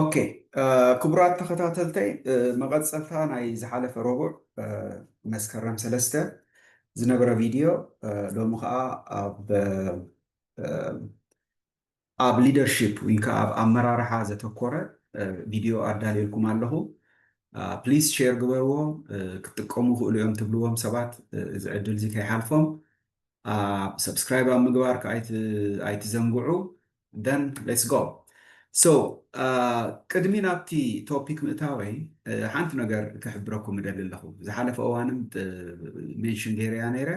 ኦኬ ክቡራት ተኸታተልተይ መቐፀልታ ናይ ዝሓለፈ ረቡዕ መስከረም ሰለስተ ዝነበረ ቪድዮ ሎሚ ከዓ ኣብ ኣብ ሊደርሽፕ ወይ ከዓ ኣብ ኣመራርሓ ዘተኮረ ቪድዮ ኣዳልየልኩም ኣለኹ ፕሊስ ሼር ግበርዎ ክትጥቀሙ ክእሉ እዮም ትብልዎም ሰባት እዚ ዕድል እዚ ከይሓልፎም ሰብስክራይብ ኣብ ምግባር ከዓ ኣይትዘንግዑ ደን ሌትስ ጎ ሶ ቅድሚ ናብቲ ቶፒክ ምእታወይ ሓንቲ ነገር ክሕብረኩም እደሊ ኣለኹ ዝሓለፈ እዋንም ሜንሽን ገይረያ ነይረ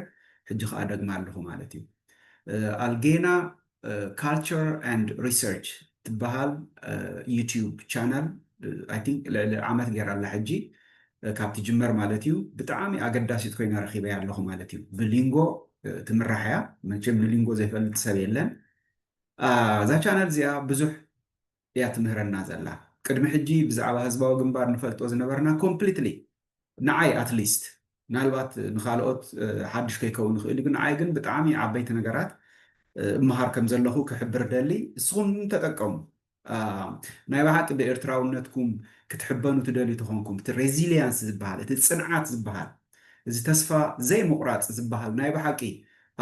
ሕጂ ከዓ ደግማ ኣለኹ ማለት እዩ ኣልጌና ካልቸር ኣንድ ሪሰርች ትበሃል ዩቱብ ቻናል ኣይ ቲንክ ልዕሊ ዓመት ገይራ ኣላ ሕጂ ካብ ትጅመር ማለት እዩ ብጣዕሚ ኣገዳሲት ኮይና ረኺበያ ኣለኹ ማለት እዩ ብሊንጎ ትምራሕ እያ መቸም ንሊንጎ ዘይፈልጥ ሰብ የለን እዛ ቻናል እዚኣ ብዙሕ እያ ትምህረና ዘላ ቅድሚ ሕጂ ብዛዕባ ህዝባዊ ግንባር ንፈልጦ ዝነበርና ኮምፕሊትሊ ንዓይ ኣትሊስት ምናልባት ንኻልኦት ሓድሽ ከይከውን ይኽእል እዩ ግን ንዓይ ግን ብጣዕሚ ዓበይቲ ነገራት እመሃር ከም ዘለኹ ክሕብር ደሊ እስኹም ተጠቀሙ ናይ ብሓቂ ብኤርትራውነትኩም ክትሕበኑ ትደልዩ ተኾንኩም እቲ ሬዚሊያንስ ዝበሃል እቲ ፅንዓት ዝበሃል እዚ ተስፋ ዘይምቑራፅ ዝበሃል ናይ ብሓቂ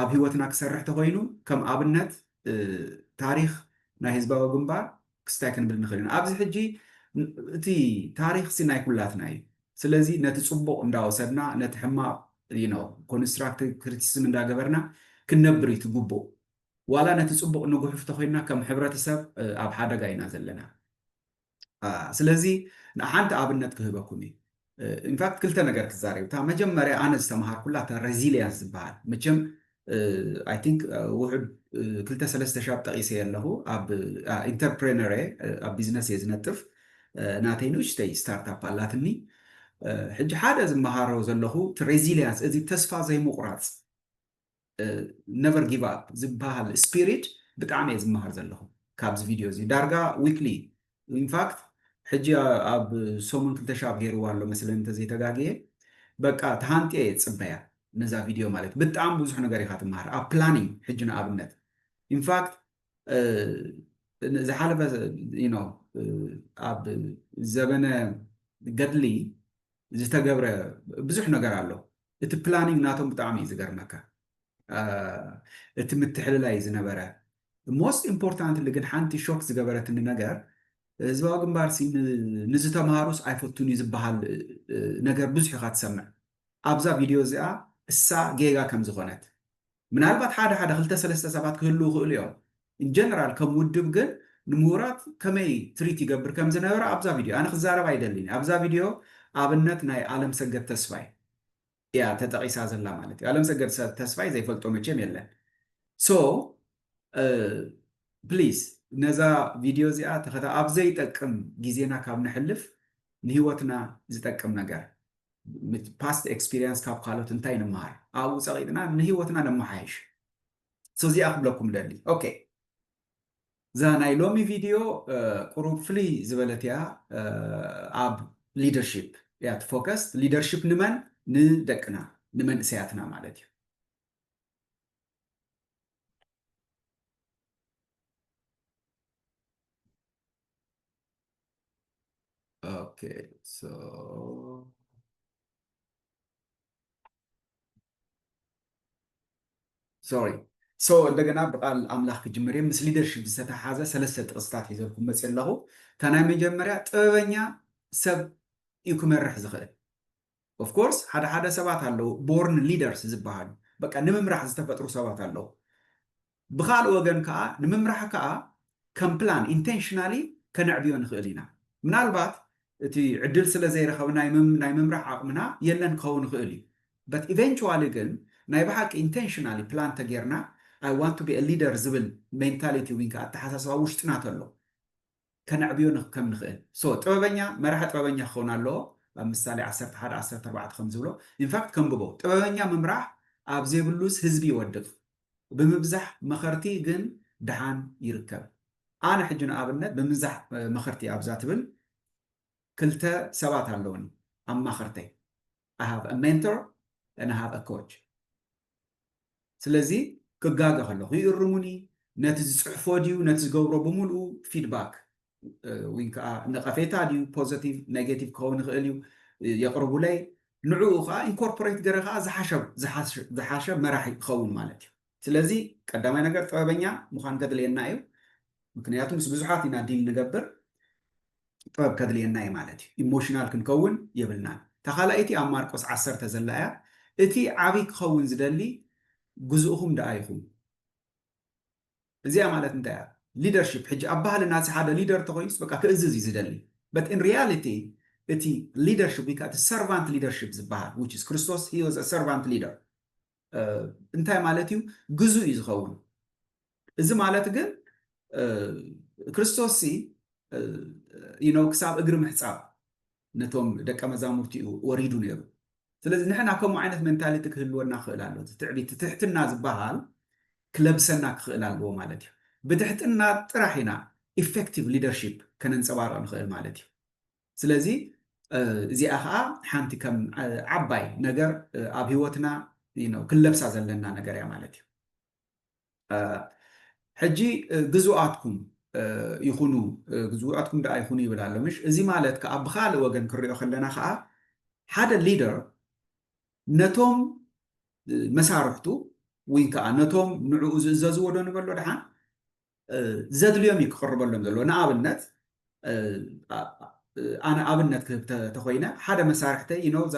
ኣብ ህይወትና ክሰርሕ ተኾይኑ ከም ኣብነት ታሪኽ ናይ ህዝባዊ ግንባር ክስታይ ክንብል ንኽእል ኢና። ኣብዚ ሕጂ እቲ ታሪኽሲ ናይ ኩላትና እዩ። ስለዚ ነቲ ጽቡቕ እንዳወሰድና ነቲ ሕማቕ you know ኮንስትራክቲቭ ክሪቲሲዝም እንዳገበርና ክንነብር እዩ እቲ ግቡእ። ዋላ ነቲ ጽቡቕ ንጉሕፍ ተኾይንና ከም ሕብረተሰብ ኣብ ሓደጋ ኢና ዘለና። ስለዚ ንሓንቲ ኣብነት ክህበኩም እዩ ኢንፋክት ክልተ ነገር ክዛረብ እታ መጀመርያ ኣነ ዝተምሃርኩላ እታ ሬዚሊያንስ ዝበሃል መቸም ኣይ ቲንክ ውሑድ ክልተ ሰለስተ ሻብ ጠቂሰ ኣለኹ ኣብ ኢንተርፕሬነር እየ ኣብ ቢዝነስ እየ ዝነጥፍ ናተይ ንእሽተይ ስታርታፕ ኣላትኒ ሕጂ ሓደ ዝመሃሮ ዘለኹ እቲ ሬዚሊያንስ እዚ ተስፋ ዘይምቑራፅ ነቨር ጊቭ ኣፕ ዝብሃል ስፒሪት ብጣዕሚ እየ ዝመሃር ዘለኹ ካብዚ ቪድዮ እዚ ዳርጋ ዊክሊ ኢንፋክት ሕጂ ኣብ ሰሙን ክልተ ሻብ ገይርዋ ኣሎ መስለኒ እንተዘይተጋግየ በቃ ተሃንጥየ እየ ዝፅበያ ነዛ ቪድዮ ማለት ብጣዕሚ ብዙሕ ነገር ኢኻ ትመሃር ኣብ ፕላኒንግ ሕጂ ንኣብነት ኢንፋክት ዝሓለፈ ነው ኣብ ዘበነ ገድሊ ዝተገብረ ብዙሕ ነገር ኣሎ እቲ ፕላኒንግ ናቶም ብጣዕሚ እዩ ዝገርመካ እቲ ምትሕልላይ ዝነበረ ሞስት ኢምፖርታንትሊ ግን ሓንቲ ሾክ ዝገበረትኒ ነገር ህዝባዊ ግንባር ንዝተምሃሩስ ኣይፈቱን እዩ ዝበሃል ነገር ብዙሕ ኢኻ ትሰምዕ ኣብዛ ቪድዮ እዚኣ እሳ ጌጋ ከም ዝኾነት ምናልባት ሓደ ሓደ ክልተ ሰለስተ ሰባት ክህልዉ ይኽእሉ እዮም። in general ከም ውድብ ግን ንምሁራት ከመይ ትሪት ይገብር ከም ዝነበረ ኣብዛ ቪድዮ ኣነ ክዛረብ ኣይደልን እየ። ኣብዛ ቪድዮ ኣብነት ናይ ኣለምሰገድ ተስፋይ እያ ተጠቒሳ ዘላ ማለት እዩ። ኣለምሰገድ ተስፋይ ዘይፈልጦ መቼም የለን። ሶ ፕሊዝ ነዛ ቪድዮ እዚኣ ተኸታ ኣብ ዘይጠቅም ግዜና ካብ ነሕልፍ ንህይወትና ዝጠቅም ነገር ፓስት ኤክስፒሪየንስ ካብ ካልኦት እንታይ ንመሃር ኣብኡ ፀቂጥና ንሂወትና ነመሓይሽ ሶ እዚኣ ክብለኩም ደሊ ኦኬ እዛ ናይ ሎሚ ቪድዮ ቁሩብ ፍልይ ዝበለት እያ ኣብ ሊደርሽፕ እያ ትፎከስ ሊደርሽፕ ንመን ንደቅና ንመንእሰያትና ማለት እዩ Okay, so ሶሪ ሶ እንደገና ብቃል ኣምላኽ ክጅምር እዮም ምስ ሊደርሽፕ ዝተተሓዘ ሰለስተ ጥቕስታት ሒዘልኩም መፅ ኣለኹ እታ ናይ መጀመርያ ጥበበኛ ሰብ እዩ ክመርሕ ዝኽእል ኦፍ ኮርስ ሓደ ሓደ ሰባት ኣለዉ ቦርን ሊደርስ ዝበሃሉ በቃ ንምምራሕ ዝተፈጥሩ ሰባት ኣለዉ ብካልእ ወገን ከኣ ንምምራሕ ከኣ ከም ፕላን ኢንተንሽናሊ ከነዕብዮ ንክእል ኢና ምናልባት እቲ ዕድል ስለ ዘይረከብ ናይ ናይ ምምራሕ ዓቅምና የለን ክከውን ይክእል እዩ በት ኢቨንቹዋሊ ግን ናይ ብሓቂ ኢንተንሽናሊ ፕላን ተጌርና ኣይ ዋንት ቱ ቢ ሊደር ዝብል ሜንታሊቲ ዊን ከኣ ኣተሓሳስባ ውሽጥና ተሎ ከነዕብዮ ከም ንኽእል so ጥበበኛ መራሒ ጥበበኛ ክኸውን ኣለዎ ኣብ ምሳሌ ዓሰርተ ሓደ ዓሰርተ ኣርባዕተ ከም ዝብሎ in fact ከንብቦ ጥበበኛ ምምራሕ ኣብ ዘይብሉስ ህዝቢ ይወድቅ ብምብዛሕ መኸርቲ ግን ደሓን ይርከብ ኣነ ሕጂ ንኣብነት ብምብዛሕ መኸርቲ ኣብዛ ትብል ክልተ ሰባት ኣለውኒ ኣማኸርተይ I have a mentor and I have a coach ስለዚ ክጋገ ከለኹ ይእርሙኒ ነቲ ዝፅሕፎ ድዩ ነቲ ዝገብሮ ብምልኡ ፊድባክ ወይ ከዓ ነቐፌታ ድዩ ፖዘቲቭ ኔጌቲቭ ክኸውን ይኽእል እዩ የቕርቡለይ ንዕኡ ከዓ ኢንኮርፖሬት ገረ ከዓ ዝሓሸ መራሒ ክኸውን ማለት እዩ ስለዚ ቀዳማይ ነገር ጥበበኛ ምዃን ከድልየና እዩ ምክንያቱ ምስ ብዙሓት ኢና ዲል ንገብር ጥበብ ከድልየና እዩ ማለት እዩ ኢሞሽናል ክንከውን የብልናን እታ ካልኣይቲ ኣብ ማርቆስ ዓሰርተ ዘላ እያ እቲ ዓብይ ክኸውን ዝደሊ ግዝእኹም ደኣ ኢኹም እዚኣ ማለት እንታይ እያ ሊደርሽፕ ሕጂ ኣብ ባህልና እቲ ሓደ ሊደር እንተኮይኑስ በቃ ክእዝዝ እዩ ዝደሊ በት ኢን ሪያሊቲ እቲ ሊደርሽፕ ወይ ከዓ እቲ ሰርቫንት ሊደርሽፕ ዝበሃል ዊች ኢዝ ክርስቶስ ሂ ዋዝ ሰርቫንት ሊደር እንታይ ማለት እዩ? ግዙእ እዩ ዝኸውን። እዚ ማለት ግን ክርስቶስ ኖ ክሳብ እግሪ ምሕፃብ ነቶም ደቀ መዛሙርቲ እዩ ወሪዱ ነይሩ። ስለዚ ንሕና ከምኡ ዓይነት ሜንታሊቲ ክህልወና ክኽእል ኣሎ። ትዕቢት ትሕትና ዝበሃል ክለብሰና ክኽእል ኣለዎ ማለት እዩ። ብትሕትና ጥራሕ ኢና ኢፌክቲቭ ሊደርሺፕ ከነንፀባርቕ ንኽእል ማለት እዩ። ስለዚ እዚኣ ኸኣ ሓንቲ ከም ዓባይ ነገር ኣብ ህይወትና ክንለብሳ ዘለና ነገር እያ ማለት እዩ። ሕጂ ግዙኣትኩም ይኹኑ ግዙኣትኩም ደኣ ይኹኑ ይብል ኣሎ ምሽ እዚ ማለት ከኣ ብካልእ ወገን ክንሪኦ ከለና ከኣ ሓደ ሊደር ነቶም መሳርሕቱ ወይ ከዓ ነቶም ንዕኡ ዝእዘዝዎ ዶ ንበሎ ድሓን ዘድልዮም እዩ ክቕርበሎም ዘለዎ። ንኣብነት ኣነ ኣብነት ክህብ ተኾይነ ሓደ መሳርሕተይ ይኖ እዛ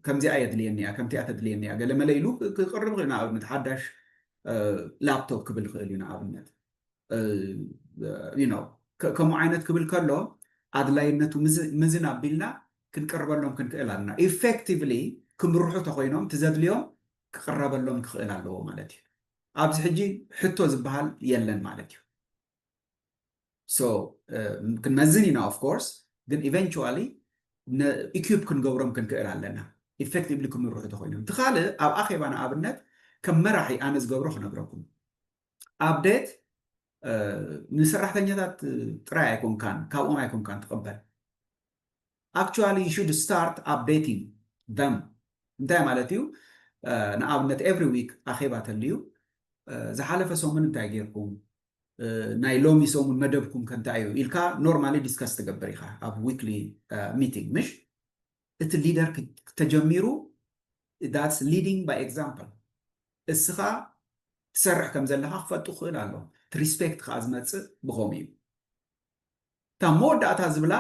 ከምዚኣ የድልየኒ እያ ከምቲኣ ተድልየኒ እያ ገለ መለ ኢሉ ክቕርብ ይኽእል ንኣብነት ሓዳሽ ላፕቶፕ ክብል ይኽእል እዩ ንኣብነት ይኖ ከምኡ ዓይነት ክብል ከሎ ኣድላይነቱ ምዝን ኣቢልና ክንቅርበሎም ክንክእል ኣለና ኢፌክቲቭሊ ክምርሑ ተኾይኖም ትዘድልዮም ክቕረበሎም ክኽእል ኣለዎ ማለት እዩ ኣብዚ ሕጂ ሕቶ ዝበሃል የለን ማለት እዩ ሶ ክንመዝን ኢና ኦፍ ኮርስ ግን ኢቨንቹዋሊ ኢኩፕ ክንገብሮም ክንክእል ኣለና ኢፌክቲቭሊ ክምርሑ ተኮይኖም እቲ ካልእ ኣብ ኣኼባ ንኣብነት ከም መራሒ ኣነ ዝገብሮ ክነግረኩም ኣብዴት ንሰራሕተኛታት ጥራይ ኣይኮንካን ካብኦም ኣይኮንካን ትቕበል actually you should start updating them እንታይ ማለት እዩ ንኣብነት every week ኣኼባ ተልዩ ዝሓለፈ ሰሙን እንታይ ጌርኩም ናይ ሎሚ ሰሙን መደብኩም ከንታይ እዩ ኢልካ ኖርማሊ ዲስከስ ትገብር ኢኻ ኣብ ዊክሊ ሚቲንግ ምሽ እቲ ሊደር ተጀሚሩ ዳትስ ሊዲንግ ባይ ኤግዛምፕል እስኻ ትሰርሕ ከም ዘለኻ ክፈልጡ ክኽእል ኣሎ እቲ ሪስፔክት ከዓ ዝመፅእ ብኸምኡ እዩ እታ መወዳእታ ዝብላ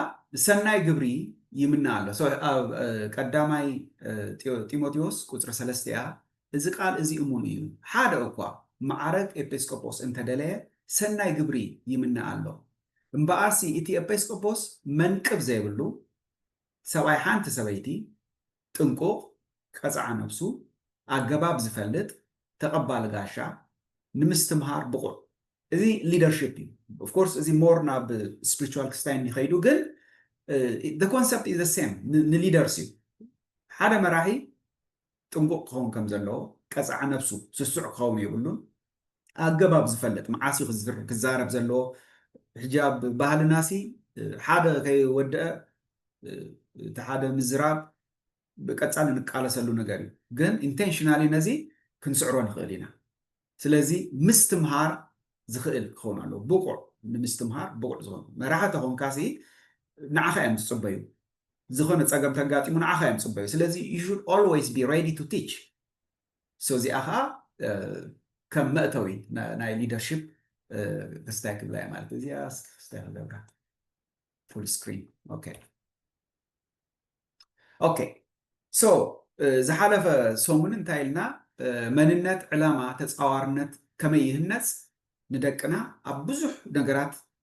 ሰናይ ግብሪ ይምነ ኣሎ። So ኣብ ቀዳማይ ጢሞቴዎስ ቁጽሪ ሰለስተ እያ እዚ ቃል እዚ እሙን እዩ ሓደ እኳ መዓረግ ኤጲስቆጶስ እንተደለየ ሰናይ ግብሪ ይምነ ኣሎ እምበኣርሲ እቲ ኤጲስቆጶስ መንቅብ ዘይብሉ ሰብኣይ ሓንቲ ሰበይቲ ጥንቁቕ፣ ቀጽዓ ነብሱ፣ ኣገባብ ዝፈልጥ፣ ተቐባሊ ጋሻ፣ ንምስትምሃር ብቑዕ። እዚ ሊደርሺፕ እዩ። ኦፍ ኮርስ እዚ ሞር ናብ ስፕሪቹዋል ክስታይ እንዲኸይዱ ግን the concept is the same ንሊደርስ እዩ። ሓደ መራሒ ጥንቁቕ ክኸውን ከም ዘለዎ፣ ቀጽዓ ነብሱ፣ ስሱዕ ክኸውን የብሉን፣ ኣገባብ ዝፈልጥ መዓስ እዩ ክዝር ክዛረብ ዘለዎ ሕጂ ኣብ ባህልናሲ ሓደ ከይወደአ እቲ ሓደ ምዝራብ ብቀጻሊ ንቃለሰሉ ነገር እዩ ግን ኢንቴንሽናሊ ነዚ ክንስዕሮ ንኽእል ኢና ስለዚ ምስትምሃር ዝኽእል ክኸውን ኣለዎ ብቑዕ ንምስትምሃር ብቑዕ ዝኾኑ መራሒ ተኾንካሲ ንዓኻ እዮም ዝፅበዩ ዝኾነ ፀገም ተጋጢሙ ንዓኻ እዮም ዝፅበዩ ስለዚ ዩ ሹድ ኦልዌይስ ቢ ሬዲ ቱ ቲች ሶ እዚኣ ኸኣ ከም መእተዊ ናይ ሊደርሺፕ ክስታይ ክብላ እየ ማለት እዚኣ ክስታይ ክገብራ ፉል ስክሪን ኦኬ ኦኬ ሶ ዝሓለፈ ሰሙን እንታይ ኢልና መንነት ዕላማ ተፃዋርነት ከመይ ይህነፅ ንደቅና ኣብ ብዙሕ ነገራት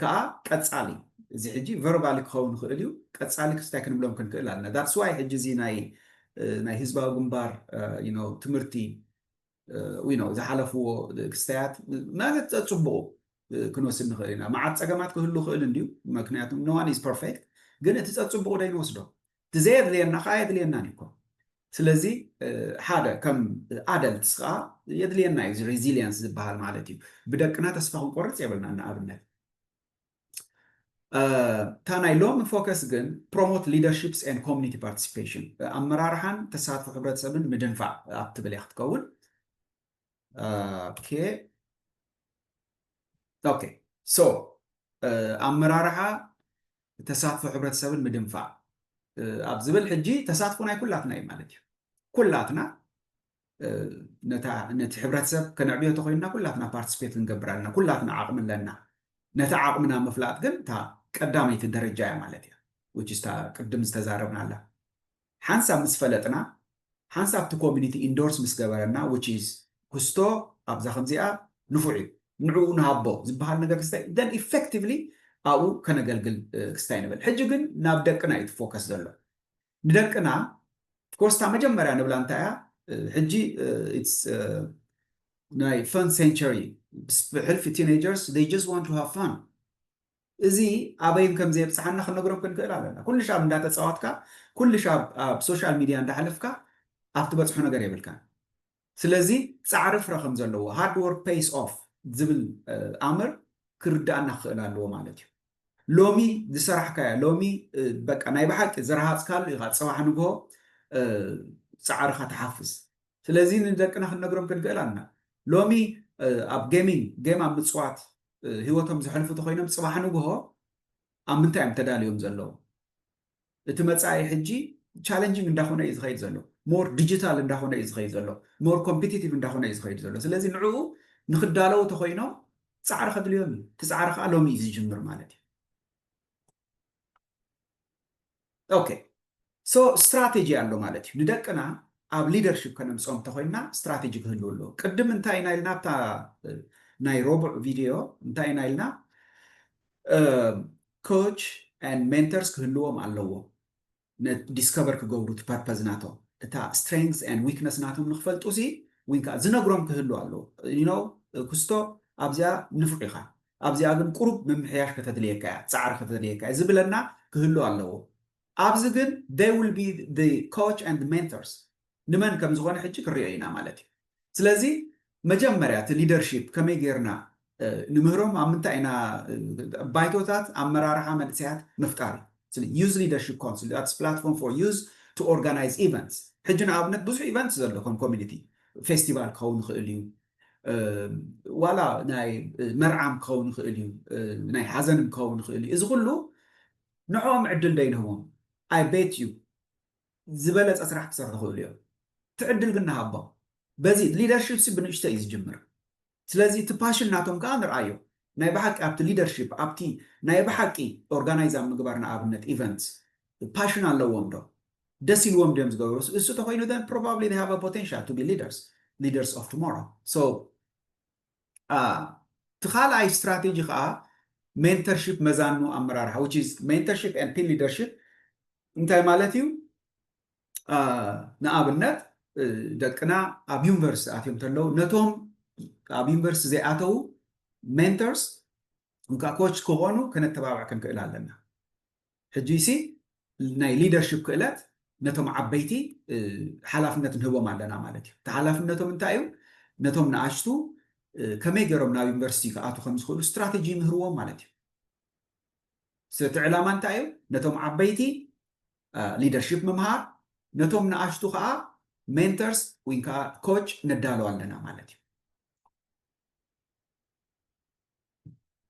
ከኣ ቀጻሊ እዚ ሕጂ ቨርባሊ ክኸውን ይኽእል እዩ ቀጻሊ ክስታይ ክንብሎም ክንክእል ኣለና ዳትስ ዋይ ሕጂ እዚ ናይ ናይ ህዝባዊ ግንባር ትምህርቲ ዝሓለፍዎ ክስታያት ማለት ጸጽቡቑ ክንወስድ ንኽእል ኢና መዓት ጸገማት ክህሉ ክእል እንድዩ ምክንያቱ ኖዋን ኢዝ ፐርፌክት ግን እቲ ጸጽቡቑ ዶ ይንወስዶ እቲ ዘየድልየና ከዓ የድልየናን እዩ እኮ ስለዚ ሓደ ከም ኣደልትስ ከዓ የድልየና እዩ እዚ ሬዚሊየንስ ዝበሃል ማለት እዩ ብደቅና ተስፋ ክንቆርፅ የብልና ንኣብነት እታ ናይ ሎሚ ፎከስ ግን ፕሮሞት ሊደርሽፕስ ን ኮሚኒቲ ፓርቲሲፔሽን ኣመራርሓን ተሳትፎ ሕብረተሰብን ምድንፋዕ ኣብ ትብል እያ ክትከውን ኦኬ ኦኬ ሶ ኣመራርሓ ተሳትፎ ሕብረተሰብን ምድንፋዕ ኣብ ዝብል ሕጂ ተሳትፎ ናይ ኩላትና እዩ ማለት እዩ ኩላትና ነቲ ሕብረተሰብ ከነዕብዮ ተኮይንና ኩላትና ፓርቲስፔት ክንገብር ኣለና ኩላትና ዓቕሚ ኣለና ነቲ ዓቕምና ምፍላጥ ግን እታ ቀዳመይቲ ደረጃ እያ ማለት እያ ውጭ ቅድም ዝተዛረብና ኣላ ሓንሳብ ምስ ፈለጥና ሓንሳብ እቲ ኮሚኒቲ ኢንዶርስ ምስ ገበረና which is ኩስቶ ኣብዛ ከምዚኣ ንፉዕ እዩ ንዕኡ ንሃቦ ዝበሃል ነገር ክስታይ then effectively ኣብኡ ከነገልግል ክስታይ ንብል ሕጂ ግን ናብ ደቅና እዩ እቲ ፎከስ ዘሎ ንደቅና of course እታ መጀመርያ ንብላ እንታይ እያ ሕጂ it's ናይ ፈን ሴንቸሪ ብሕልፊ ቲኔጀርስ they just want to have fun እዚ ኣበይ ከም ዘየብጽሓና ክንነግሮም ክንክእል ኣለና። ኩልሻብ እንዳተጻወትካ፣ ኩልሻብ ኣብ ሶሻል ሚድያ እንዳሕለፍካ ኣብ ትበጽሖ ነገር የብልካን። ስለዚ ጻዕሪ ፍረ ከም ዘለዎ፣ ሃርድ ወርክ ፔይስ ኦፍ ዝብል ኣምር ክርድኣና ክኽእል ኣለዎ ማለት እዩ። ሎሚ ዝሰራሕካዮ፣ ሎሚ በቃ ናይ ብሓቂ ዝረሃጽካሉ ኢኻ ጽባሕ ንግሆ ጻዕርኻ ትሓፍስ። ስለዚ ንደቅና ክንነግሮም ክንክእል ኣለና። ሎሚ ኣብ ጌሚንግ፣ ጌም ኣብ ምጽዋት፣ ህይወቶም ዘሕልፉ ተኮይኖም ፅባሕ ንግሆ ኣብ ምንታይ እዮም ተዳልዮም ዘለዉ እቲ መፃኢ ሕጂ ቻለንጂንግ እንዳኾነ እዩ ዝኸይድ ዘሎ ሞር ዲጂታል እንዳኾነ እዩ ዝኸይድ ዘሎ ሞር ኮምፒቲቲቭ እንዳኾነ እዩ ዝኸይድ ዘሎ ስለዚ ንዕኡ ንክዳለዉ ተኮይኖም ፃዕሪ ከድልዮም እዩ እቲ ፃዕሪ ከዓ ሎሚ እዩ ዝጅምር ማለት እዩ ኦኬ ሶ ስትራቴጂ ኣሎ ማለት እዩ ንደቅና ኣብ ሊደርሽፕ ከነምፅኦም እንተኮይንና ስትራቴጂ ክህልው ኣለዎ ቅድም እንታይ ኢና ኢልና ኣብታ ናይ ረቡዕ ቪድዮ እንታይ ኢና ኢልና ኮች ን ሜንተርስ ክህልዎም ኣለዎ ን ዲስከቨር ክገብሩ እቲ ፐርፐዝ ናቶም እታ ስትሬንግዝ ኤንድ ዊክነስ ናቶም ንክፈልጡ ሲ ዊን ከኣ ዝነግሮም ክህሉ ኣለዎ ዩ ኖው ኩስቶ ኣብዚኣ ንፉዕ ኢካ ኣብዚኣ ግን ቁሩብ ምምሕያሽ ከተድልየካ እያ ጻዕሪ ከተድልየካ እያ ዝብለና ክህሉ ኣለዎ ኣብዚ ግን they will be the coach and mentors ንመን ከም ዝኾነ ሕጂ ክንሪኦ ኢና ማለት እዩ። ስለዚ መጀመርያ እቲ ሊደርሺፕ ከመይ ጌርና ንምህሮም ኣብ ምንታይ ኢና ባይቶታት ኣመራርሓ መንእሰያት ምፍጣር እዩ። ስለ ዩዝ ሊደርሺፕ ካውንስል ዳትስ ፕላትፎርም ፎር ዩዝ ቱ ኦርጋናይዝ ኢቨንትስ ሕጂ ንኣብነት ብዙሕ ኢቨንት ዘሎ ከም ኮሚኒቲ ፌስቲቫል ክኸውን ይኽእል እዩ ዋላ ናይ መርዓም ክኸውን ይኽእል እዩ ናይ ሓዘንም ክኸውን ይኽእል እዩ እዚ ኩሉ ንዕኦም ዕድል ደይንህቦም ኣይ ቤት እዩ ዝበለጸ ስራሕ ክሰርሑ ይኽእሉ እዮም ትዕድል ግን ንሃቦም በዚ ሊደርሺፕሲ ብንእሽተይ እዩ ዝጅምር ስለዚ እቲ ፓሽን ናቶም ከኣ ንርኣዮ ናይ ብሓቂ ኣብቲ ሊደርሺፕ ኣብቲ ናይ ብሓቂ ኦርጋናይዝ ኣብ ምግባር ንኣብነት ኢቨንትስ ፓሽን ኣለዎም ዶ ደስ ኢልዎም ድዮም ዝገብሩ እሱ ተኾይኑ then probably they have a potential to be leaders leaders of tomorrow so እቲ ካልኣይ ስትራቴጂ ከኣ ሜንተርሺፕ መዛኑ ኣመራርሓ which is Mentorship and Team Leadership እንታይ ማለት እዩ ንኣብነት ደቅና ኣብ ዩኒቨርሲቲ ኣትዮም ተለዉ ነቶም ኣብ ዩኒቨርሲቲ ዘይኣተዉ ሜንተርስ እንካ ኮች ክኾኑ ከነተባብዕ ክንክእል ኣለና ሕጂሲ ናይ ሊደርሽፕ ክእለት ነቶም ዓበይቲ ሓላፍነት ንህቦም ኣለና ማለት እዩ። እቲ ሓላፍነቶም እንታይ እዩ? ነቶም ንኣሽቱ ከመይ ገይሮም ናብ ዩኒቨርሲቲ ክኣትዉ ከም ዝኽእሉ ስትራተጂ ይምህርዎም ማለት እዩ። ስለ እቲ ዕላማ እንታይ እዩ? ነቶም ዓበይቲ ሊደርሽፕ ምምሃር፣ ነቶም ንኣሽቱ ከዓ ሜንተርስ ወይ ከዓ ኮች ነዳሉ ኣለና ማለት እዩ።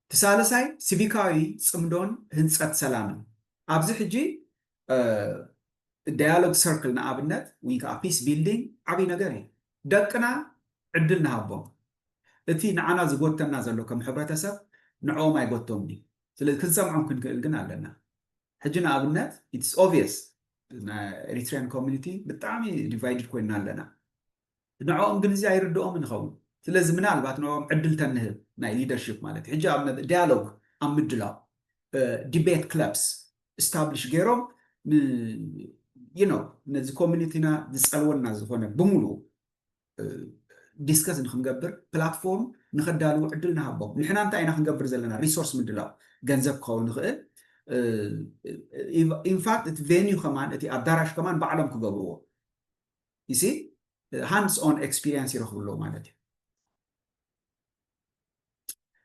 እቲ ሳልሳይ ሲቪካዊ ጽምዶን ህንጸት ሰላምን ኣብዚ ሕጂ ዳያሎግ ሰርክል ንኣብነት ወይ ከዓ ፒስ ቢልዲንግ ዓብይ ነገር እዩ። ደቅና ዕድል ንሃቦም እቲ ንዓና ዝጎተና ዘሎ ከም ሕብረተሰብ ንዕኦም ኣይጎቶምን እዩ። ስለዚ ክንሰምዖም ክንክእል ግን ኣለና። ሕጂ ንኣብነት ኢትስ ኦብየስ ናይ ኤሪትሪያን ኮሚኒቲ ብጣዕሚ ዲቫይድድ ኮይና ኣለና። ንዕኦም እንግሊዚ ኣይርድኦምን ይኸውን ስለዚ ምናልባት ንዕኦም ዕድል ተንህብ ናይ ሊደርሺፕ ማለት እዩ ሕጂ ኣብ ዳያሎግ ኣብ ምድላው ዲቤት ክለብስ እስታብሊሽ ገይሮም ን ዩ ኖው ነዚ ኮሚኒቲና ዝጸልወና ዝኾነ ብምሉኡ ዲስከስ ንክንገብር ፕላትፎርም ንከዳልዉ ዕድል ንሃቦም ንሕና እንታይ ኢና ክንገብር ዘለና ሪሶርስ ምድላው ገንዘብ ክኸውን ንኽእል ኢንፋክት እቲ ቬኒዩ ከማን እቲ ኣዳራሽ ከማን ባዕሎም ክገብርዎ ይሲ ሃንድስ ኦን ኤክስፒሪንስ ይረኽቡ ኣለዉ ማለት እዩ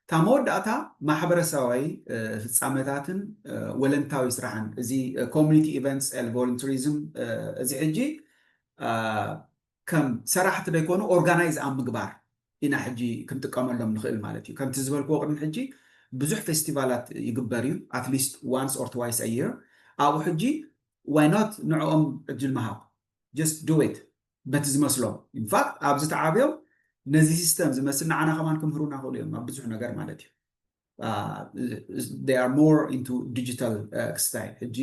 እታ መወዳእታ ማሕበረሰባዊ ፍፃመታትን ወለንታዊ ስራሕን እዚ ኮሚኒቲ ኢቨንትስ ኤል ቮለንትሪዝም እዚ ሕጂ ከም ሰራሕቲ ዘይኮኑ ኦርጋናይዝ ኣብ ምግባር ኢና ሕጂ ክንጥቀመሎም ንኽእል ማለት እዩ ከምቲ ዝበልክዎ ቅድሚ ሕጂ ብዙሕ ፌስቲቫላት ይግበር እዩ ኣትሊስት ዋንስ ኦር ትዋይስ ኣየር ኣብኡ ሕጂ ዋይ ኖት ንዕኦም ዕድል ምሃብ ጀስት ዱ ኢት በቲ ዝመስሎም ኢንፋክት ኣብዚ ተዓብዮም ነዚ ሲስተም ዝመስል ንዓና ከማን ክምህሩና ክእሉ እዮም ኣብ ብዙሕ ነገር ማለት እዩ they are more into digital ክስታይ ሕጂ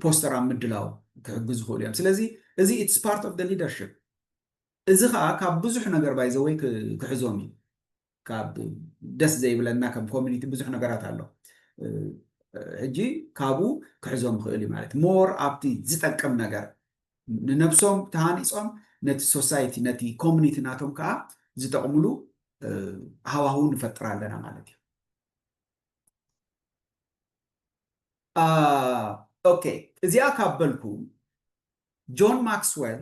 ፖስተር ኣብ ምድላው ክሕግዙ ክእሉ እዮም ስለዚ እዚ ኢትስ ፓርት ኦፍ ሊደርሽፕ እዚ ከዓ ካብ ብዙሕ ነገር ባይዘወይ ክሕዞም እዩ ካብ ደስ ዘይብለና ከም ኮሚኒቲ ብዙሕ ነገራት ኣሎ ሕጂ ካብኡ ክሕዞም ይኽእል እዩ ማለት ሞር ኣብቲ ዝጠቅም ነገር ንነብሶም ተሃኒፆም ነቲ ሶሳይቲ ነቲ ኮሚኒቲ ናቶም ከዓ ዝጠቕምሉ ሃዋህው ንፈጥር ኣለና ማለት እዩ ኦኬ እዚኣ ካብ በልኩ ጆን ማክስወል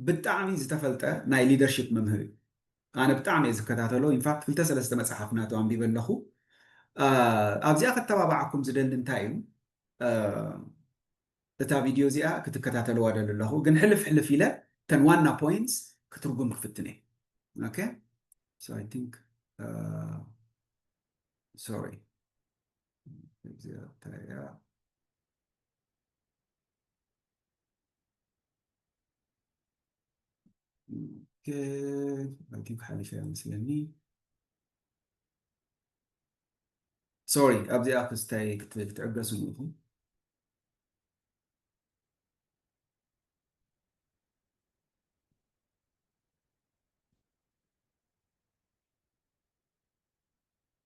ብጣዕሚ ዝተፈልጠ ናይ ሊደርሺፕ መምህር እዩ ኣነ ብጣዕሚ እየ ዝከታተሎ ኢንፋክት ክልተ ሰለስተ መጽሓፍ ናቱ ኣንቢበ ኣለኹ ኣብዚኣ ከተባባዓኩም ዝደሊ እንታይ እዩ እታ ቪድዮ እዚኣ ክትከታተልዋ ደሊ ኣለኹ ግን ሕልፍ ሕልፍ ኢለ ተን ዋና ፖይንትስ ክትርጉም ክፍትን እየ ኦኬ ሶ ኣይ ቲንክ ሶሪ ኣንቲም ሓሊፈ መስለኒ ሶሪ ኣብዚኣ ክስታይ ክትዕገሱ ኢኹም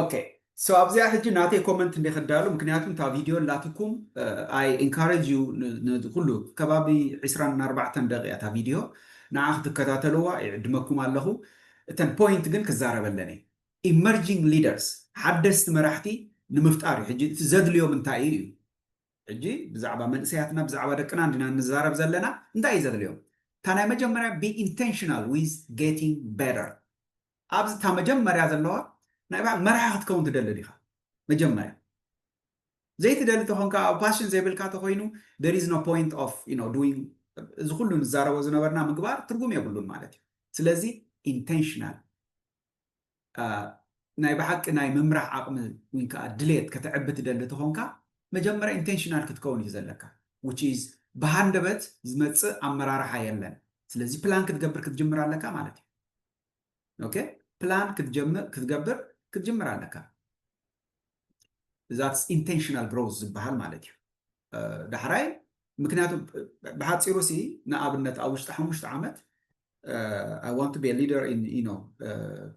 ኦኬ ሶ ኣብዚኣ ሕጂ ናተይ ኮመንት እንድየ ከዳሉ ምክንያቱ እታ ቪድዮ ኣላትኩም ኣይ ኢንካረጅ ዩ ንኩሉ ከባቢ ዕስራን ኣርባዕተን ደቂቅ እያ እታ ቪድዮ ንዓ ክትከታተልዋ ይዕድመኩም ኣለኩ እተን ፖይንት ግን ክዛረበለን እየ ኢመርጂንግ ሊደርስ ሓደስቲ መራሕቲ ንምፍጣር ዩ ሕጂ እቲ ዘድልዮም እንታይ እዩ እዩ ሕጂ ብዛዕባ መንእሰያትና ብዛዕባ ደቅና እንዲና ንዛረብ ዘለና እንታይ እዩ ዘድልዮም እታ ናይ መጀመርያ be intentional with getting better ኣብዚ እታ መጀመርያ ዘለዋ ናይ ባዕል መራሒ ክትከውን ትደሊ ዲኻ መጀመርያ ዘይትደሊ ተኾንካ ኣብ ፓሽን ዘይብልካ ተኾይኑ there is no point of you know doing እዚ ኩሉ ንዛረቦ ዝነበርና ምግባር ትርጉም የብሉን ማለት እዩ ስለዚ ኢንቴንሽናል ናይ ብሓቂ ናይ ምምራሕ ዓቕሚ ዊን ከኣ ድሌት ከተዕቢ ትደሊ ተኾንካ መጀመርያ ኢንተንሽናል ክትከውን እዩ ዘለካ which is ብሃንደበት ዝመጽእ ኣመራርሓ የለን ስለዚ ፕላን ክትገብር ክትጅምር ኣለካ ማለት እዩ ኦኬ ፕላን ክትጀምር ክትገብር ክትጅምር ኣለካ ዛትስ ኢንተንሽናል ግሮዝ ዝበሃል ማለት እዩ ዳሕራይ ምክንያቱ ብሓፂሩ ሲ ንኣብነት ኣብ ውሽጢ ሓሙሽተ ዓመት ኣይ ዋንት ቢ ሊደር ኢን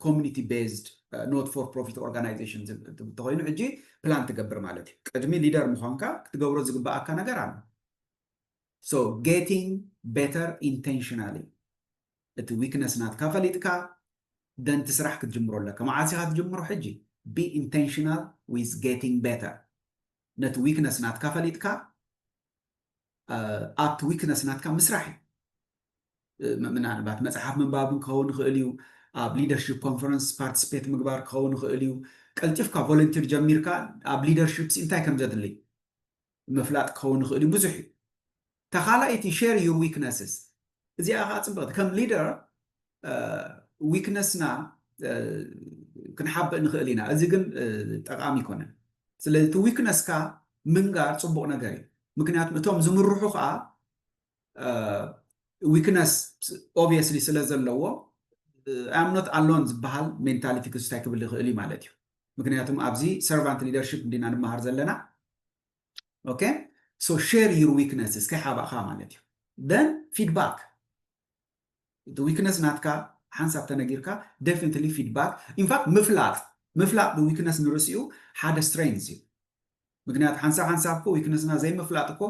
ኮሚኒቲ ቤዝድ ኖት ፎር ፕሮፊት ኦርጋናይዜሽን እንተኮይኑ ሕጂ ፕላን ትገብር ማለት እዩ ቅድሚ ሊደር ምኳንካ ክትገብሮ ዝግባኣካ ነገር ኣሎ ሶ ጌቲንግ ቤተር ኢንቴንሽናሊ እቲ ዊክነስ ናትካ ፈሊጥካ ደንቲ ስራሕ ክትጅምሮ ኣለካ መዓስ ኢካ ትጅምሮ ሕጂ ቢ ኢንቴንሽናል ዊዝ ጌቲንግ ቤተር ነቲ ዊክነስ ናትካ ፈሊጥካ ኣብቲ ዊክነስ ናትካ ምስራሕ እዩ ምናልባት መፅሓፍ ምንባብ ክኸውን ይኽእል እዩ ኣብ ሊደርሽፕ ኮንፈረንስ ፓርቲስፔት ምግባር ክኸውን ይኽእል እዩ ቀልጢፍካ ቮለንቲር ጀሚርካ ኣብ ሊደርሽፕ እንታይ ከም ዘድልይ ምፍላጥ ክኸውን ይኽእል እዩ ብዙሕ እዩ እታ ካልኣይቲ share your weaknesses እዚኣ ከኣ ጽብቕቲ ከም ሊደር ዊክነስና ክንሓብእ ንኽእል ኢና እዚ ግን ጠቓሚ ኣይኮነን ስለዚ እቲ ዊክነስካ ምንጋር ጽቡቕ ነገር እዩ ምክንያቱ እቶም ዝምርሑ ከኣ ዊክነስ ኦብየስሊ ስለ ዘለዎ ኣምኖት ኣሎን ዝበሃል ሜንታሊቲ ክስታይ ክብል ይኽእል እዩ ማለት እዩ ምክንያቱም ኣብዚ ሰርቫንት ሊደርሽፕ እንዲና ንመሃር ዘለና ኦኬ ሶ ሼር ዩር ዊክነስስ ከይሓባእኻ ማለት እዩ ደን ፊድባክ እቲ ዊክነስ ናትካ ሓንሳብ ተነጊርካ ደፊኒትሊ ፊድባክ ኢንፋክት ምፍላጥ ምፍላጥ ብዊክነስ ንርእሲኡ ሓደ ስትሬንዝ እዩ ምክንያቱ ሓንሳብ ሓንሳብ እኮ ዊክነስና ዘይምፍላጥ እኮ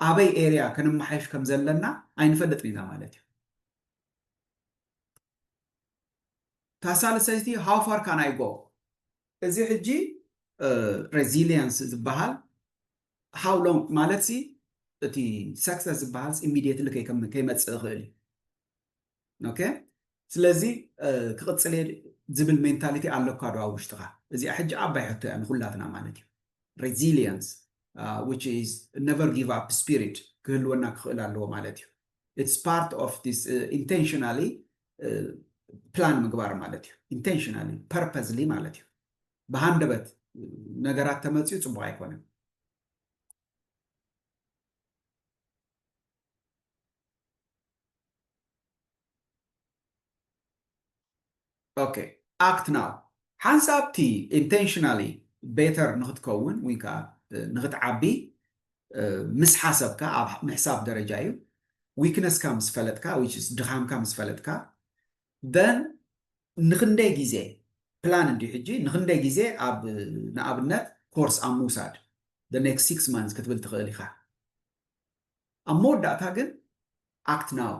ኣበይ ኤርያ ከነመሓይሽ ከም ዘለና ኣይንፈልጥን ኢና ማለት እዩ ታሳልሰይቲ ሃው ፋር ካን ኣይ ጎ እዚ ሕጂ ሬዚሊየንስ ዝበሃል ሃው ሎንግ ማለት ሲ እቲ ሰክሰስ ዝበሃል ኢሚድየትሊ ከይመፅእ ይኽእል እዩ ኦኬ ስለዚ ክቕፅል እየ ዝብል ሜንታሊቲ ኣለካ ዶ ኣብ ውሽጥኻ እዚኣ ሕጂ ዓባይ ሕቶ እያ ንኩላትና ማለት እዩ ሬዚሊየንስ ዊች ኢዝ ነቨር ጊቭ ኣፕ ስፒሪት ክህልወና ክኽእል ኣለዎ ማለት እዩ ኢትስ ፓርት ኦፍ ዲስ ኢንቴንሽናሊ ፕላን ምግባር ማለት እዩ። ኢንቴንሽናሊ ፐርፐዝሊ ማለት እዩ። ብሃንደበት ነገራት ተመፅዩ ፅቡቅ ኣይኮነን። ኦኬ ኣክት ናው ሓንሳብቲ ኢንቴንሽናሊ ቤተር ንክትከውን ወይ ከዓ ንክትዓቢ ምስ ሓሰብካ ኣብ ምሕሳብ ደረጃ እዩ weakness ካ ምስ ፈለጥካ which is ድኻምካ ምስ ፈለጥካ then ንኽንደይ ግዜ ፕላን እንድዩ ሕጂ ንኽንደይ ግዜ ኣብ ንኣብነት ኮርስ ኣብ ምውሳድ the next six months ክትብል ትኽእል ኢኻ ኣብ መወዳእታ ግን ኣክት ናው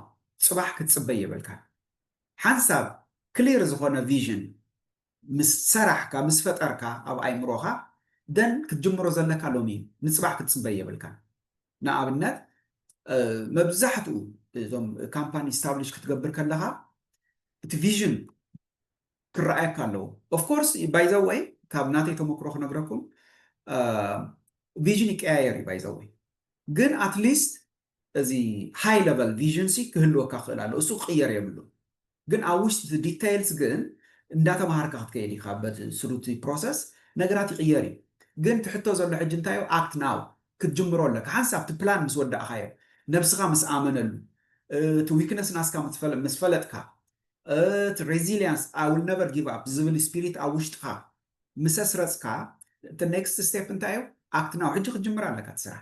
ፅባሕ ክትፅበይ የብልካን ሓንሳብ ክሊር ዝኾነ ቪዥን ምስ ሰራሕካ ምስ ፈጠርካ ኣብ ኣይምሮኻ then ክትጅምሮ ዘለካ ሎሚ እዩ ንጽባሕ ክትጽበ የብልካን ንኣብነት መብዛሕትኡ እዞም ካምፓኒ ስታብሊሽ ክትገብር ከለኻ እቲ ቪዥን ክረኣየካ ኣለዎ ኦፍ ኮርስ ባይ ዘ ወይ ካብ ናተይ ተመክሮ ክነግረኩም ቪዥን ይቀያየር እዩ ባይ ዘ ወይ ግን ኣትሊስት እዚ ሃይ ለቨል ቪዥን ሲ ክህልወካ ክኽእል ኣለዎ እሱ ክቕየር የብሉን ግን ኣብ ውሽጢ እቲ ዲተይልስ ግን እንዳተማሃርካ ክትከይድ ኢኻ በቲ ስሩ እቲ ፕሮሰስ ነገራት ይቕየር እዩ ግን እቲ ሕቶ ዘሎ ሕጂ እንታይ እዩ ኣክት ናው ክትጅምሮ ኣለካ ሓንሳብ እቲ ፕላን ምስ ወዳእኻዮ ነብስኻ ምስ ኣመነሉ እቲ ዊክነስ ናስካ ምስ ፈለጥካ እቲ ሬዚልያንስ ኣይ ዊል ነቨር ጊቭ ኣፕ ዝብል ስፒሪት ኣብ ውሽጥኻ ምስ ኣስረጽካ እቲ ኔክስት ስቴፕ እንታይ እዩ ኣክት ናው ሕጂ ክትጅምር ኣለካ እቲ ስራሕ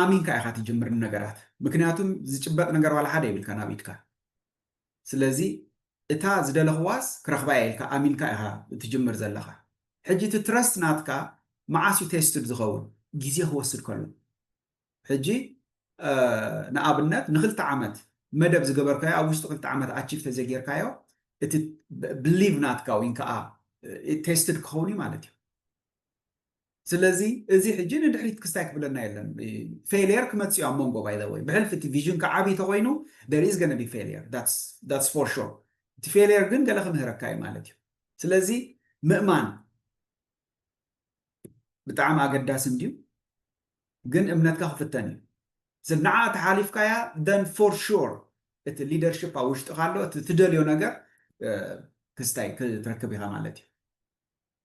ኣሚንካ ኢኻ ትጅምር ንነገራት ምክንያቱም ዝጭበጥ ነገር ዋላ ሓደ የብልካን ኣብ ኢድካ ስለዚ እታ ዝደለኽዋስ ክረኽባ እየ ኢልካ ኣሚንካ ኢኻ ትጅምር ዘለኻ ሕጂ እቲ ትረስት ናትካ መዓስ እዩ ቴስትድ ዝኸውን ግዜ ክወስድ ከሎ ሕጂ ንኣብነት ንክልተ ዓመት መደብ ዝገበርካዮ ኣብ ውሽጢ ክልተ ዓመት ኣቺቭ ተዘጌርካዮ እቲ ብሊቭ ናትካ ወይ ከዓ ቴስትድ ክኸውን እዩ ማለት እዩ ስለዚ እዚ ሕጂ ንድሕሪት ክስታይ ክብለና የለን ፌልየር ክመጽእ እዩ ኣብ መንጎ ባይ ዘ ወይ ብሕልፊ እቲ ቪዥንካ ዓቢ ተኾይኑ there is gonna be failure that's that's for sure እቲ ፌልየር ግን ገለ ክምህረካ እዩ ማለት እዩ ስለዚ ምእማን ብጣዕሚ ኣገዳሲ እንድዩ ግን እምነትካ ክፍተን እዩ ስለ ንዓ ተሓሊፍካያ then for sure እቲ ሊደርሽፕ ኣብ ውሽጥኻ ኣሎ እቲ ትደልዮ ነገር ክስታይ ክትረክብ ኢኻ ማለት እዩ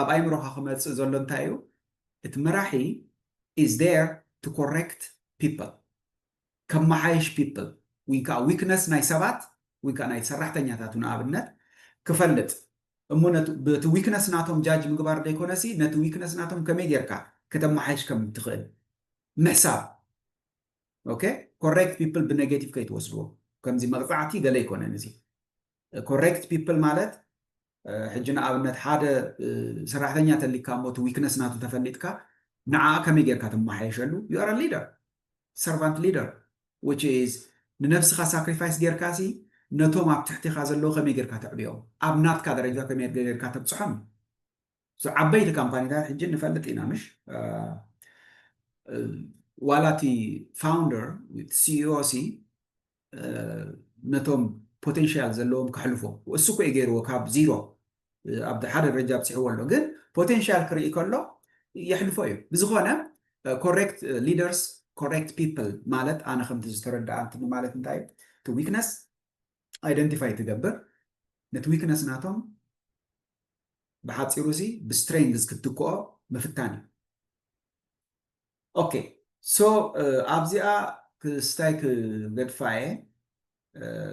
ኣብ ኣይምሮኻ ክመጽእ ዘሎ እንታይ እዩ እቲ መራሒ is there to correct people ከማሓይሽ people ወይ ከኣ weakness ናይ ሰባት ወይ ከኣ ናይ ሰራሕተኛታቱ ንኣብነት ክፈልጥ እሞ ነቲ በቲ weakness ናቶም ጃጅ ምግባር ዘይኮነሲ ነቲ weakness ናቶም ከመይ ጌርካ ከተማሓይሽ ከም እትኽእል ምሕሳብ ኦኬ ኮሬክት ፒፕል ብኔጌቲቭ ከይትወስድዎ ከምዚ መቕፃዕቲ ገለ ኣይኮነን እዚ ኮሬክት ፒፕል ማለት ሕጂ ንኣብነት ሓደ ሰራሕተኛ ተሊካ እሞ እቲ ዊክነስ ናቱ ተፈሊጥካ ንዓኣ ከመይ ጌርካ ትመሓየሸሉ you are a leader servant leader which is ንነብስኻ ሳክሪፋይስ ጌርካ ሲ ነቶም ኣብ ትሕቲኻ ዘለዉ ከመይ ጌርካ ተዕብዮም ኣብ ናትካ ደረጃ ከመይ ጌርካ ተብጽሖም እዩ so ዓበይቲ ካምፓኒታት ሕጂ ንፈልጥ ኢና ምሽ ዋላ እቲ ፋውንደር ሲኢኦ ሲ ነቶም ፖቴንሻል ዘለዎም ከሕልፎ እሱ እኮ እዩ ገይርዎ ካብ ዚሮ ኣብ ሓደ ደረጃ ኣብፂሕዎ ኣሎ ግን ፖቴንሻል ክርኢ ከሎ የሕልፎ እዩ ብዝኾነ ኮሬክት ሊደርስ ኮሬክት ፒፕል ማለት ኣነ ከምቲ ዝተረዳኣንትኒ ማለት እንታይ እዩ እቲ ዊክነስ ኣይደንቲፋይ ትገብር ነቲ ዊክነስ ናቶም ብሓፂሩ እዚ ብስትሬንግዝ ክትትክኦ ምፍታን እዩ ኦኬ ሶ ኣብዚኣ ክስታይ ክገድፋ እየ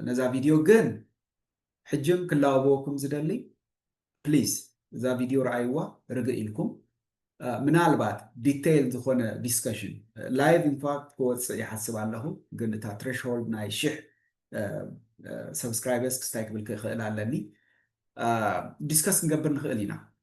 ነዛ ቪድዮ ግን ሕጅም ክላወበወኩም ዝደሊ ፕሊዝ እዛ ቪድዮ ረኣይዋ ርግእ ኢልኩም ምናልባት ዲተይል ዝኾነ ዲስከሽን ላይቭ ኢንፋክት ክወፅእ ይሓስብ ኣለኹ ግን እታ ትሬሽሆልድ ናይ ሽሕ ሰብስክራይበርስ ክስታይ ክብል ክኽእል ኣለኒ ዲስከስ ክንገብር ንኽእል ኢና